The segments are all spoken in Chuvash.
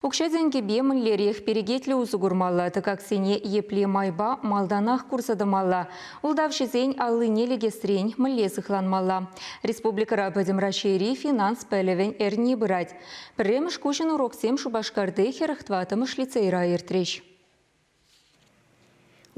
Укҫа-тенкӗпе мӗнлерех перекетлӗ усӑ курмалла, тӑкаксене епле майпа малтанах курса тӑмалла, ултавҫӑсен аллине лекесрен мӗнле сыхланмалла. Республикӑра Пӗтӗм Раҫҫейри финанс пӗлӗвӗн эрни пырать. Пӗрремӗш куҫӑн уроксем Шупашкарти хӗрӗх тӑваттӑмӗш лицейра иртрӗҫ.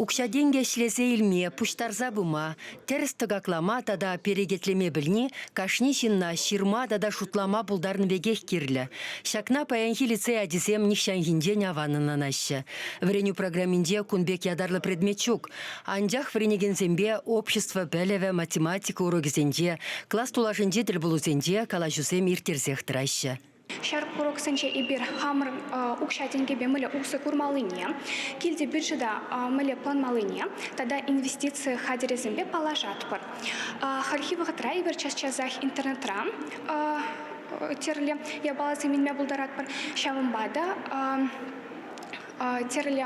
Укҫа-тенкӗ ӗҫлесе илме, пуҫтарса пыма, тӗрӗс тӑкаклама тата перекетлеме пӗлни кашни ҫынна ҫырма тата шутлама пултарнӑ пекех кирлӗ. Ҫакна паянхи лицей ачисем нихҫанхинчен аван ӑнланаҫҫӗ. Вӗренӳ программинче кун пек ятарлӑ предмет ҫук. Анчах вӗренекенсемпе общество пӗлӗвӗ, математика урокӗсенче, класс тулашӗнчи тӗлпулусенче калаҫусем ирттерсех тӑраҫҫӗ. Ҫар курӑксенче эпир хамӑр укҫа-тенкӗпе мӗнле усӑ курмаллине, килти бюджета мӗнле планмаллине тата инвестици хатӗрӗсемпе паллашатпӑр. Хальхи вӑхӑтра эпир час-часах интернетра тӗрлӗ япаласем илме пултаратпӑр. Ҫавӑнпа та тӗрлӗ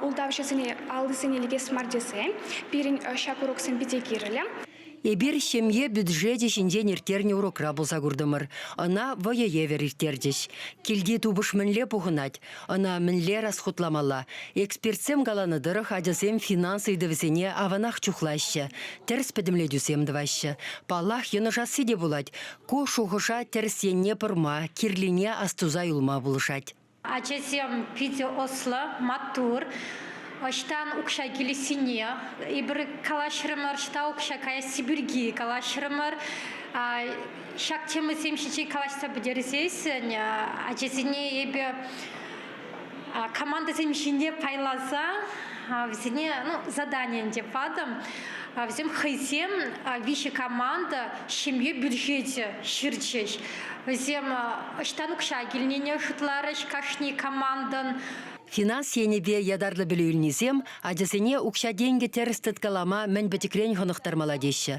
ултавҫӑсене аллисене лекес мар тесе пирӗн ҫак уроксем питӗ кирлӗ. Эпир ҫемье бюджечӗ ҫинчен ирттернӗ урокра пулса куртӑмӑр. Ӑна вӑйӑ евӗр ирттерчӗҫ. Килти тупӑш мӗнле пухӑнать, ӑна мӗнле расхутламалла, экспертсем каланӑ тӑрӑх ачасем финанс ыйтӑвӗсене аванах чухлаҫҫӗ, тӗрӗс пӗтӗмлетӳсем тӑваҫҫӗ. Паллах, йӑнӑшасси те пулать. Ку шухӑша тӗрӗс енне пӑрма, кирлине астуса юлма пулӑшать. Ачасем питӗ ӑслӑ, маттур. Ӑҫтан укҫа килессине эпир калаҫрӑмӑр, ӑҫта укҫа каясси пирки калаҫрӑмӑр. Ҫак темӑсем ҫинчен калаҫса пӗтерсессӗн ачасене эпӗ командӑсем ҫине пайласа вӗсене ну, задание ӗнтӗ патӑм. Вӗсем хӑйсем виҫӗ команда ҫемье бюджечӗ ҫырчӗҫ. Вӗсем ӑҫтан укҫа килнине шутларӗҫ кашни командӑн. Финанс енӗпе ятарлӑ пӗлӳ илнисем ачасене укҫа-тенкӗ тӗрӗс тыткалама мӗн пӗчӗкрен хӑнӑхтармалла теҫҫӗ.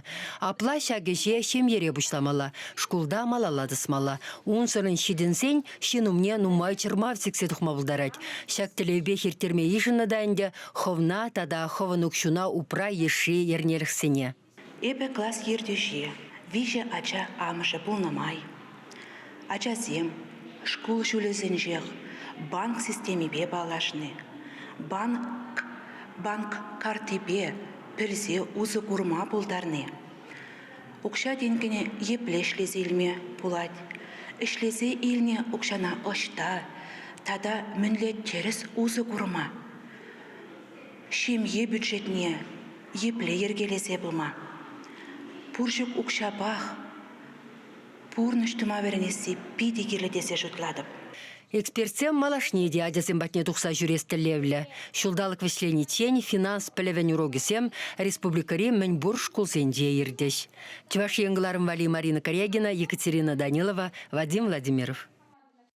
Апла ҫак ӗҫе ҫемьере пуҫламалла, шкулта малалла тӑсмалла. Унсӑрӑн ҫитӗнсен ҫын умне нумай чӑрмав сиксе тухма пултарать. Ҫак тӗллевпех ирттерме йышӑннӑ та ӗнтӗ хӑвна тата хӑвӑн укҫуна упра йышши ернелӗхсене. Эпӗ класс ертӳҫи, виҫӗ ача амӑшӗ пулнӑ май, ачасем шкул ҫулӗсенчех банк системипе паллашни, банк, банк карттипе пӗлсе усӑ курма пултарни, укҫа-тенкӗне епле ӗҫлесе илме пулать, ӗҫлесе илнӗ укҫана ӑҫта тата мӗнле тӗрӗс усӑ курма, ҫемье бюджетне, Епле йӗркелесе пыма? Пур ҫук укҫапах пурнӑҫ тума вӗренесси питӗ кирлӗ тесе шутлатӑп. Экспертсем малашне те ачасем патне тухса ҫӳрес тӗллевлӗ. Ҫулталӑк вӗҫлениччен финанс пӗлӗвӗн урокӗсем республикӑри мӗнпур шкулсенче иртӗҫ. Чӑваш Ен кӑларӑм валли Марина Корягина, Екатерина Данилова, Вадим Владимиров.